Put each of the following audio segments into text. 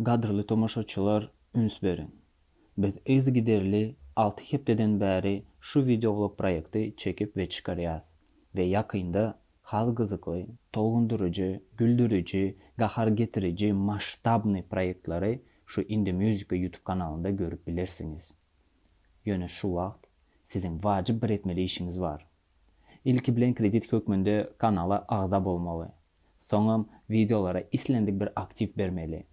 Gadyrly tomaşaçylar üns beriň! Biz yzygiderli alty hepdeden bäri şu wideoulog proýekti çekip we çykarýas we ýakynda has gyzykly, tolgundyryjy, güldüriji, gahar getiriji masştabny proýektleri şu Indie Musica ýutub kanalynda görüp bilersiňiz. Ýöne şu wagt siziň wajyp bir etmeli işiňiz bar. Ilki bilen kredit hökmünde kanala agza bolmaly. Soňam wideolara islendik bir aktiw bermeli.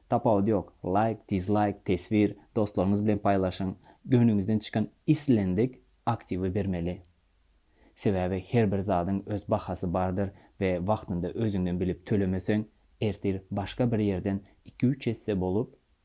Tapawudy ýok, laýk, dizlaýk, teswir, dostlaryňyz bilen paýlaşyň, göwnüňizden çykan islendik aktiwi bermeli. Sebäbi her bir zadyň öz bahasy bardyr we wagtynda özüňden bilip tölemeseň, ertir başga bir ýerden iki-üç esse bolup,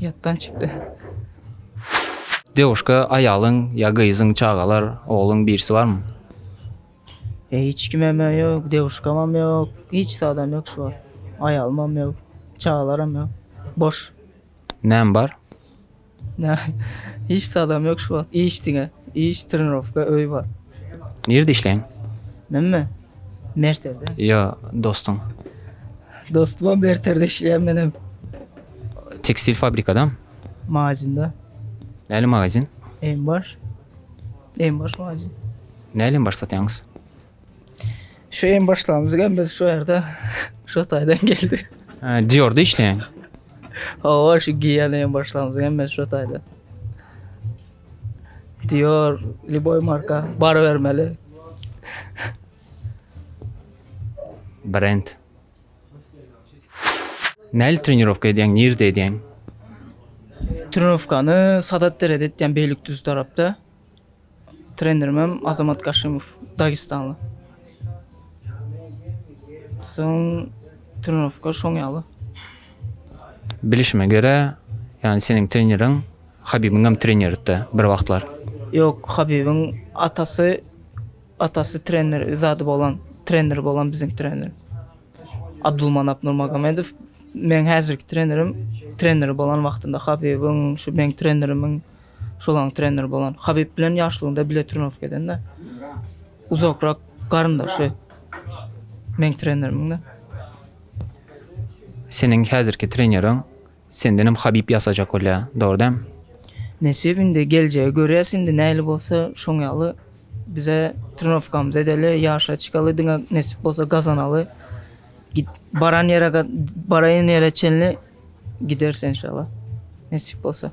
Ýatdan çykdy. Dewuşka aýalyň ýa gyzyň çagalar ogluň birisi barmy. Hiç kimemem ýok dewuşkamam ýok hiç zadam ýok şu wagt aýalymam ýok çagalaram ýok boş. Näme bar. Hiç zadam ýok şu wagt iş diňe iş trenirowka öý bar. Nirde işleýäň. Menmi Merterde? Ýa dostuň? Dostumam Merterde işleýär menem. Tekstil fabrikadam? Magazinde. Näli magazin? Em baş. Em baş magazin. Näli em baş satýaňyz? Şu em başlamyz hem biz şu ýerde şu taýdan geldi. Diorda işleýäň? Hawa şu giýen em başlamyz hem biz şu taýda. Dior, liboy marka, bar bermeli. Brend. Näli trenirowka edýäň, nirde edýäň? Trenirowkany Sadat derede etýän Beýlikdüz tarapda. Trenerim hem Azamat Kaşymow, dagestanly. Soň trenirowka şoň ýaly. Bilişime görä, ýagny seniň treneriň Habibiňem treneridi bir wagtlar. Ýok Habibiň atasy atasy trener zady bolan trener bolan biziň trener. Abdulmanap Nurmagomedow meň häzirki trenerim trener bolan wagtynda Habibiň şu meň trenerimiň şolaň trener bolan. Habib bilen ýaşlygynda bile trenirowka edende. Uzakrak garyndaşy meň trenerimiň-de. Seniň häzirki treneriň Sendenem Habib ýasajak bolýa, dogry dämi? Nesip indi geljegi görýäs indi nähili bolsa şoň ýaly bize trenowkamyzy edeli ýaryşa çykaly diňe nesip bolsa gazanaly git baran ýere ga baraýan ýere çenli gideris enşalla nesip bolsa.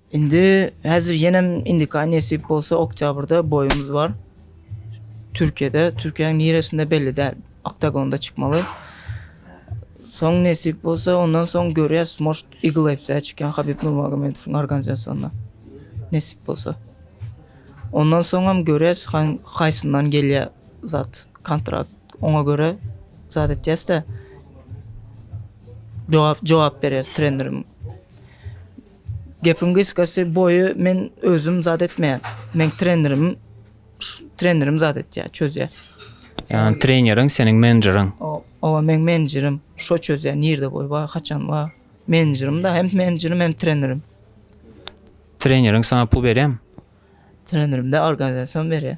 Indi häzir ýenem indika nesip bolsa oktýabrda boýumyz bar. Türkiýede, Türkiýäň niresinde belli däl. Oktagonda çykmaly. Soň nesip bolsa ondan soň görýäs, может, Eagle FC-ä çykýan Habib Nurmagomedowň organizasiýonda. Nesip bolsa. Ondan soňam görýäs, haýsyndan gelýär zat, kontrakt. Oňa görä zat etýäs-de. Jogap, jogap berýäs trenerim. Gepiň gysgasy boýy men özüm zat etmeýän. Men trenerim trenerim zat etýär, çözýär. Ýani treneriň seniň menejeriň. Owa men menejerim. Şo çözýär nirde boý bar, haçan bar. Menejerim da hem menejerim hem trenerim. Treneriň saňa pul berýärmi? Trenerim de organizasiýam berýär.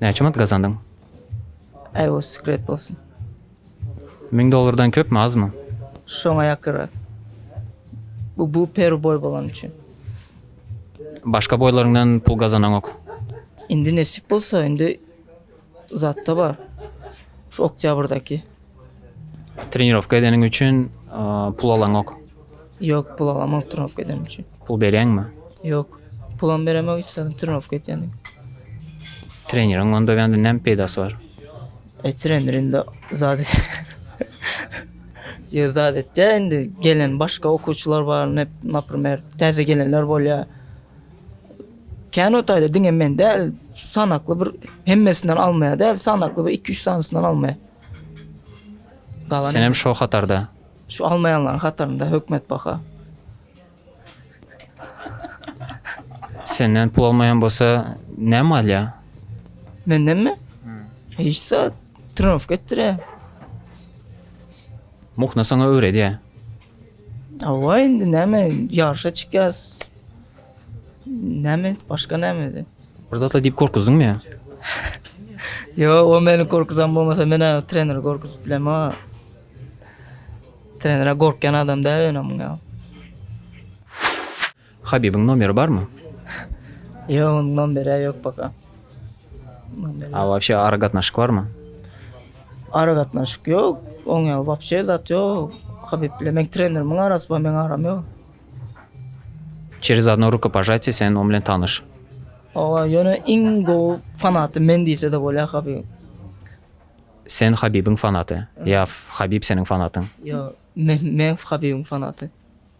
Näçe manat gazandyň? Äý o sekret bolsun. Müň dollardan köpmi azmy? Şoňa ýakynrak. Bu bu peru boý bolany üçin. Başga boýlaryňdan pul gazanaňok. Indi nesip bolsa indi zatda bar. Şu oktýabrdaky. Trenirowka edeniň üçin pul alaňok. Ýok, pul alamok trenirowka edenim üçin. Pul berýäňmi? Ýok. Pulam beremok, hiç zat trenirowka etýändim. Treneriň onda bende näme peýdasy bar? E trener indi zat Ýa zat etýä indi gelen başga okuwçylar bar, nep, naprimer, täze gelenler bolýa. Kän otaýda diňe men däl, sanakly bir hemmesinden almaýa däl, sanakly bir iki-üç sanysyny almaýa. Senem şo hatarda. Şu almaýanlaryň hatarynda hökmet baka. Senden pul almaýan bolsa näme alýa? Mendenmi? Hiç zat. Trenowka etdirýä. Muhna saňa öwredýä. Hawa indi näme ýaryşa çykýas. Näme başga näme indi. Bir zatlar diýip gorkuzdyňmy ýa? Ýok, o meni gorkuzan bolmasa men treneri gorkuzyp bilemok ha. Trenere gorkýan adam däl öňem ýa. Habibiň nomeri barmy. Ýok onuň nomeri ýok paka. A wapşe ara gatnaşyk barmy. Ara gatnaşyk ýok oň ýa wapşe zat ýok Habib bilen meň trenerimiň arasy bar meň aram ýok. Çerez adno rukopajatiýe sen oň bilen tanyş. Owa ýöne iň gowy fanaty men diýsede bolýar Habibiň. Sen Habibiň fanaty ýa Habib seniň fanatyň. Ýok men men Habibiň fanaty.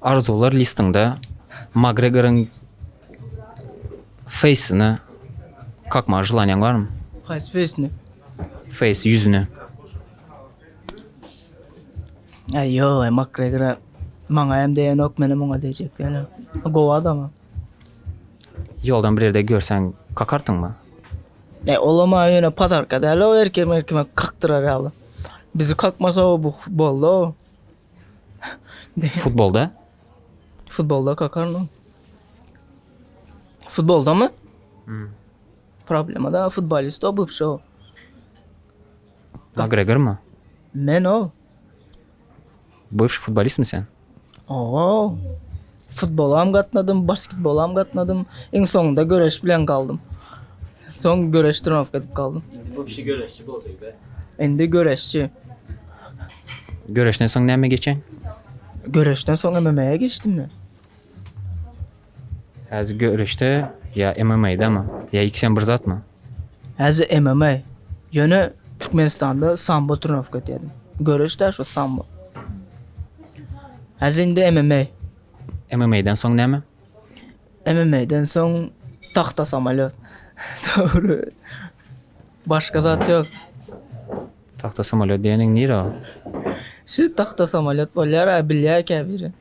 Arzuwlar listiňde Makgregoryň feýsine kakmagy želanýaň barmy? Haýsy feýsine? Feýs, ýüzüne. Aý ýok, aý Makgregora maňa hem degeniok, menem oňa dejek ýöne. Gowy adama. Ýoldan bir ýerde görseň kakarsyňmy? E, olam aý ýöne padarka däl-ow, erkek merkeme kakdyrar ýaly. Bizi kakmasa-ow bu boldy-ow. Futbolda? Futbolda kakarno. Futbolda mı? Hmm. Problema da futbolist o bu şu. McGregor mı? Men o. Bıvş futbolist mi sen? Oo. Futbolam gatnadym, basketbolam gatnadym. Iň soňunda göreş bilen galdym. Soň göreş trenowatka edip galdym. Indi bu kişi göreşçi boldy-da. Indi göreşçi. Göreşden soň näme geçeň? Göreşden soň MMA-ýa geçdim men. Häzir göreşde ýa MMA-dama? Ýa ikisem bir zatmy? Häzir MMA ýöne Türkmenistanda sambo trenowatka etýärdim. Göreşdä şu sambo. Häzir indi MMA. MMA-den soň näme? MMA-den soň tahta samolýot. Dogry. Başga zat ýok. Tahta samolýot diýeniň nire o? Şu tahta samolýot bolýar, bilýär käbiri.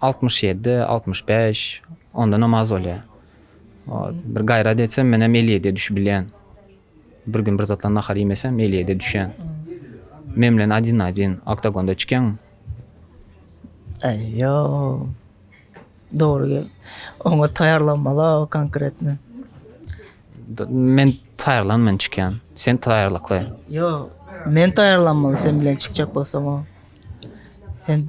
Altmyş ýedi, altmyş bäş, ondanam az bolýar. Bir gaýrat etsem, menem elli ýediýe düşüp bilýän. Bir gün bir zatla nahar iýmesem, elli ýediýe düşýän. Men bilen adin na adin oktagonda çykýaň. Aýýo. Dogry. Oňa taýýarlanmaly konkretno. Men taýýarlan men çykýan. Sen taýýarlykly. Ýok. Men taýýarlanmaly sen bilen çykjak bolsam. Sen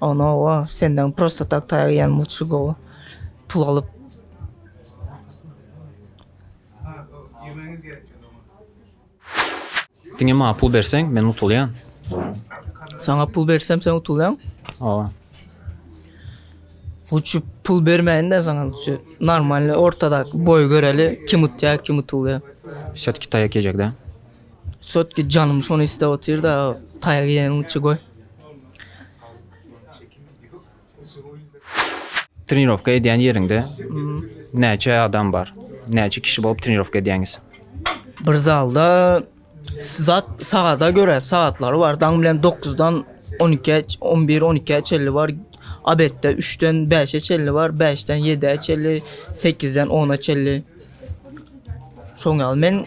Ona owa senden prosta tak taýak iýen muçy gowy pul alyp. Diňe maňa pul berseň men utulýan. Saňa pul bersem sen utulýan? Owa. Uçup pul bermeyin de sana şu normalny ortadak boy göreli kim utya kim utulya. Şat kitaya kecek de. Çötki janym şony isläp otyrda taýak iýeniň üçi goý. Trenirowka edýän ýeriňde näçe adam bar? Näçe kişi bolup trenirowka edýäňiz? Bir zalda zat sagada görä sagatlary bar. Daň bilen dokuzdan on ikä, on bir, on ikä çenli bar. Abetde üçden bäşe çenli bar, bäşden ýedä çenli, sekizden ona çenli. Şoň ýaly men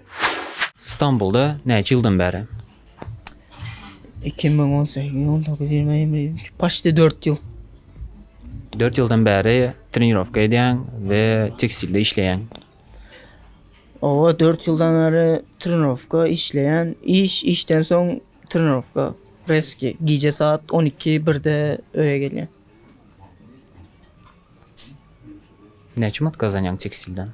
Stambulda näçe ýyldan bäri? 2018 on dokuz ýigrimi ýigrimi iki paçti dört ýyl. Dört ýyldan bäri trenirowka edýäň we tekstilde işleýäň. Owa dört ýyldan bäri trenirowka işleýän, iş, işden soň trenirowka. Reski gije saat on iki, birde öýe gelýän. Näçe manat gazanýaň tekstilden?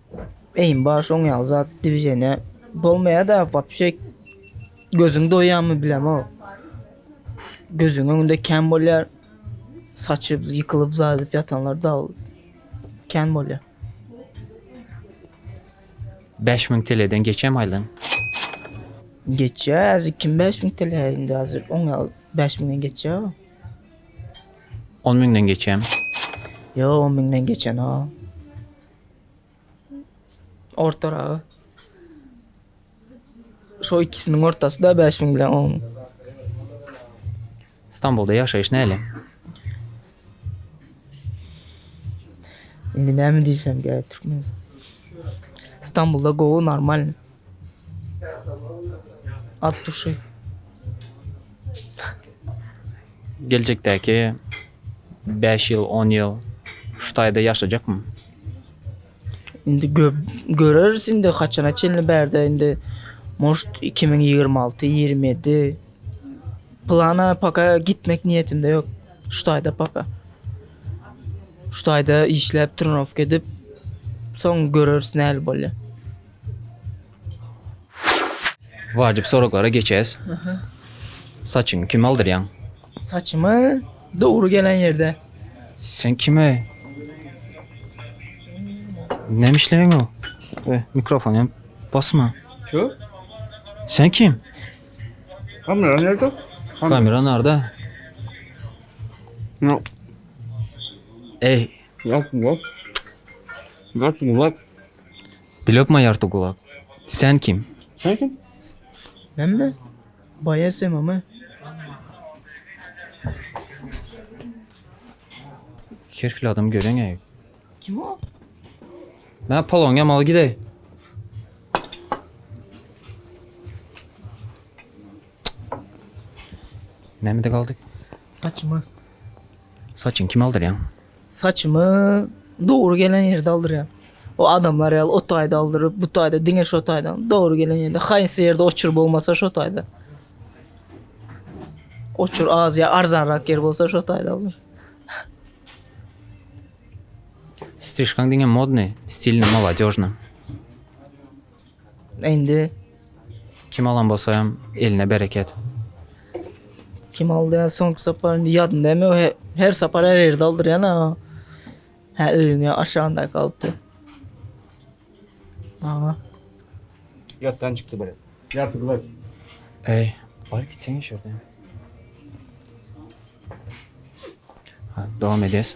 Eým bar şoň ýaly zat dwiženýa bolmaýada wapşe gözüň doýýamy bilemok. Gözüň öňünde kän bolýar. Saçy ýykylyp zaýyp ýatanlar da kän bolýar. 5000 teleden geçem aýlan. Geçýär, kim 5000 tele indi hazir oň ýaly 5000-den geçýär. 10 müňden geçýärmi? Ýok, 10 müňden geçen o. Ortaragy. Şo ikisiniň ortasy da 5000 bilen 10 000. Stambulda ýaşaýyş näle? Indi näme diýsem gerek türkmen. Stambulda gowy, normalny. At duşy. Geljekdäki 5 ýyl, 10 ýyl şu taýda ýaşajakmy? Indi göreriz indi haçana çenli bärde indi muşt 2026, 27 plana paka gitmek niýetimde ýok. Şu taýda paka. Şu taýda işläp, trenirowka edip, soň göreriz näl bolýar. Wajyp soraglara geçýäs. Saçyňy kime aldyrýaň? Saçymy dogry gelen ýerde. Sen kime? Näme işleýäň o? Be, mikrofon hem basma. Şu? Sen kim? Kamera nerede? Kamera nerede? No. Ey, Ýalt gulak. Ýalt gulak. Bilokma ýarty gulak. Sen kim? Sen kim? Menmi? Baýar Semamy. Her hili adam göreňe. Kim o? Mä palon ýamaly gideý. Nämede galdyk? Saçyma. Saçyňy kime aldyrýaň? Saçymy dogry gelen ýerde aldyrýan. O adamlar ýaly o taýda aldyryp, bu taýda diňe şo taýda. Dogry gelen ýerde, haýsy ýerde oçur bolmasa şo taýda. Oçur az ýa arzanrak ýer bolsa şo taýda aldyr. Strişkaň diňe modny, stilni, moladežny. Indi Kim alan bolsa hem eline bereket. Kim aldy ya soňky sapar indi ýadynda hem ýok. He- Her sapar her ýerde aldyrýan aga. Hä öýüňe aşagynda galypdy. Aga. Ýatdan çykdy biri. Ýarty glas. Ey, baryp gitseň şurada. Ha, dowam edes.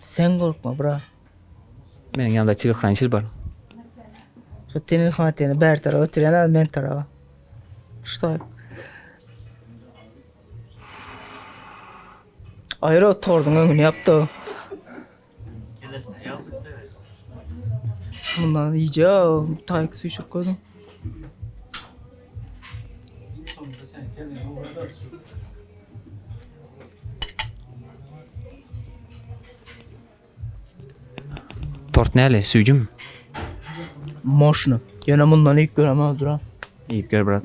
Sen gorkma brat. Meniň ýanymda telekrany çil bar. Şu teni hwateni bäri tarap oturýan az men tarap. Ştoý. Aýra oturdyň öňüni ýapdy. Bundan iýje, taýk süýşüp gözüm. Tort näle, süýjümi? Moşny. Ýöne mundan iýip göremok duran. Iýip gör brat.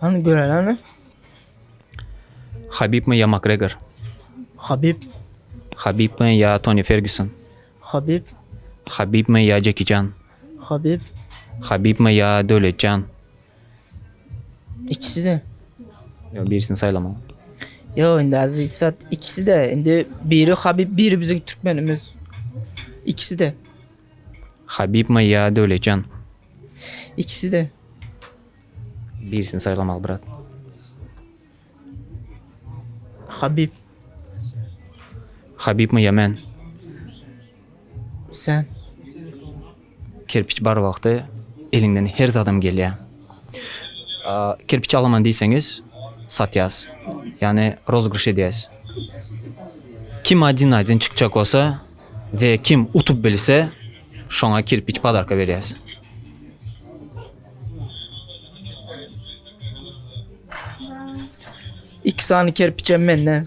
Hany göreleni. Habib mi ya Makgregor? Habib. Habib mi ya Toni Ferguson? Habib. Habib mi ya Jackie Chan? Habib. Habib mi ya Döwlet Can? İkisi de. Yo birisini saýlama. Yo indi azı sat ikisi de. Indi biri Habib biri bizim Türkmenimiz. İkisi de. Habibmi ýa Döwletjan? Ikisi-de. Birisini saýlamaly brat. Habib. Habibmi ýa men? Sen. Kerpiç bar wagty eliňden her zadam gelýär. Kerpiç alaman diýseňiz, satýas. Ýagny rozygryş edýäs. Kim adin-adin çykjak bolsa, We kim utup bilse şoňa kirpiç padarka berýäs. Iki sany kerpiç hem mende.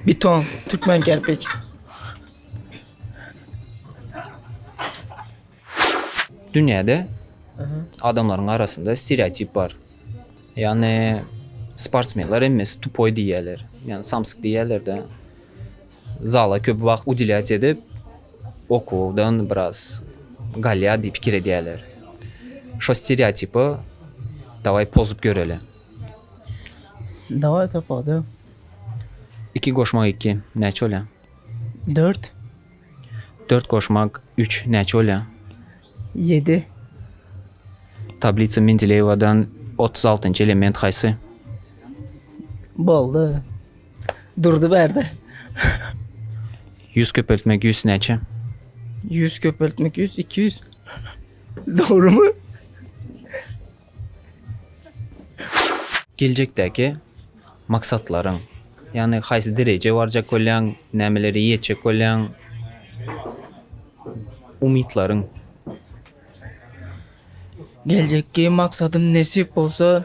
Beton, türkmen kerpiç. Dünýäde adamlaryň arasynda stereotip bar. Ýagny sportsmenler hemmesi tupoý diýýärler. Ýagny samsyk diýýärler-de. Zala köp wagt udilýat edip, okuwdan biraz galýar diýip pikir edýärler. Şo stereotipi dawaý pozup göreli. Dawaý sapada. Iki goşmak iki näçe bolýar? Dört. Dört goşmak üç näçe bolýar? Ýedi. Tablisa Mendileýewadan otuz altynjy element haýsy? Boldy. Durdy bärde. Ýüz köpeltmek ýüz näçe? Ýüz köpeltmek ýüz iki ýüz. Dogrumy? Geljekdäki maksatlaryň, ýagny haýsy derejä barjak bolýaň, nämelere ýetjek bolýaň, umytlaryň. Geljekki maksadym nesip bolsa,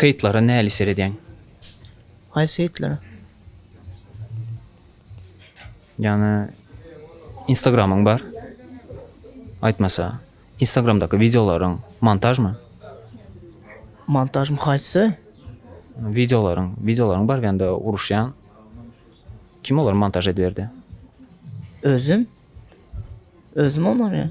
Hytlara näli seredýäň? Haýsy hytlara? Ýagny instagramyň bar. Aýtmasa, instagramdaky wideolaryň montažmy? Montažmy haýsy? Wideolaryň, wideolaryň bar bende uruşýan. Kim olary montaž ediberdi? Özüm. Özüm olary.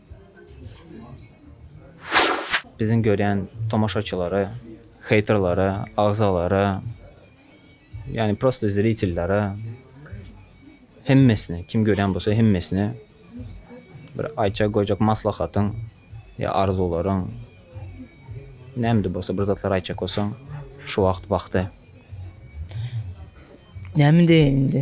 Biziň görýän tomaşaçylara, heýterlara, agzalara, ýagny prosta zritellere hemmesine, kim görýän bolsa hemmesine bir aýtjak goýjak maslahatyň ýa arzuwlaryň nämde bolsa bir zatlar aýtjak bolsaň şu wagt wagty. Näme diýeýin indi.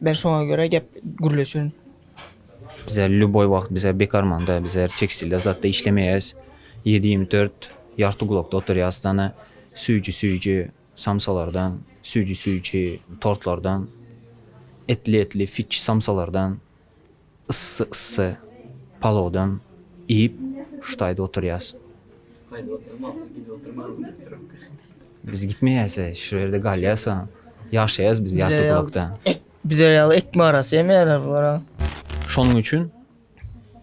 Men şoňa göre gep gürleşerin. Bize lýuboý wagt bize bekarmanda bize tekstilde zatda işlemeýäs. Ýedi ýigrimi dört ýarty gulakda oturýas dana. Süýji süýji samsalardan, süýji süýji tortlardan, etli etli fiç samsalardan. yssy-yssy palawdan iýip, şu taýda oturýas. Gaýdyp oturmaň, gidip oturmaň diýip durapdyr. Biz gitmeýäs-ä, şu ýerde galýas, ýaşaýas biz Ýartygulakda. Bize ýaly ekme arasy ýemeýärler bular-a. Şonuň üçin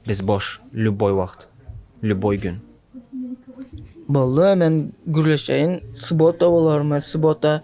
biz boş, lýuboý wagt, lýuboý gün. Boldy, men gürleşeýin, subota bolarmy, subota.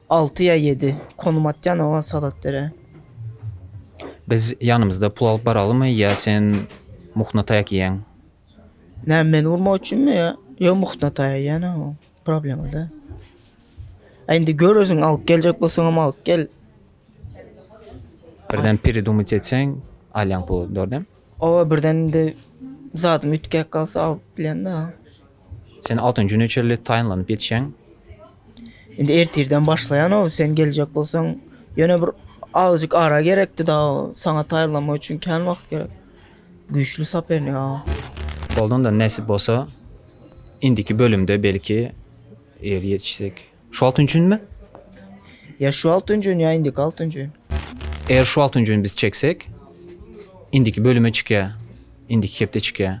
Alty ýa ýedi. Konum atýan oňa salat bere. Biz ýanymyzda pul alyp baralymy ýa sen muhna taýak iýeň? Näme meni urmak üçinmi ýa? Ýok muhna taýak iýene o problema däl. A indi gör özüň alyp geljek bolsaňam alyp gel. Birden peredumyt etseň alýaň puly dordem. Oba birden indi zadym üýtgäp galsa alyp bilýän-dä. Sen altyn jüne çenli taýynlanyp ýetişýäň. Indi ertirden başlaýan-ow, sen geljek bolsaň, ýöne bir azajyk ara gerekdi dagy, saňa taýynlanmak üçin kän wagt gerek. Güýçli sopernik aga. Boldy onda, nesip bolsa, indiki bölümde belki ýeri ýetişsek. Şu altyn jünmi? Ýa şu altyn jün, ýa indiki altyn jün. Eger şu altyn jüni biz çeksek, indiki bölüme çykýar, indiki hepde çykýar.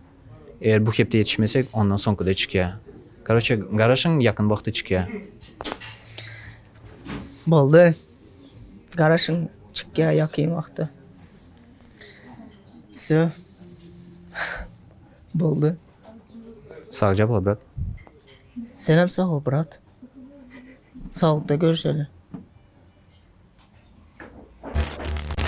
Eger bu hepde ýetişmesek ondan soňkyda çykýa. Karoçe garaşyň ýakyn wagtda çykýa. Boldy. Garaşyň çykýa ýakyn wagtda. Sö. Boldy. Sagja bol brat. Senem sag bol brat. Saglykda görüşeli.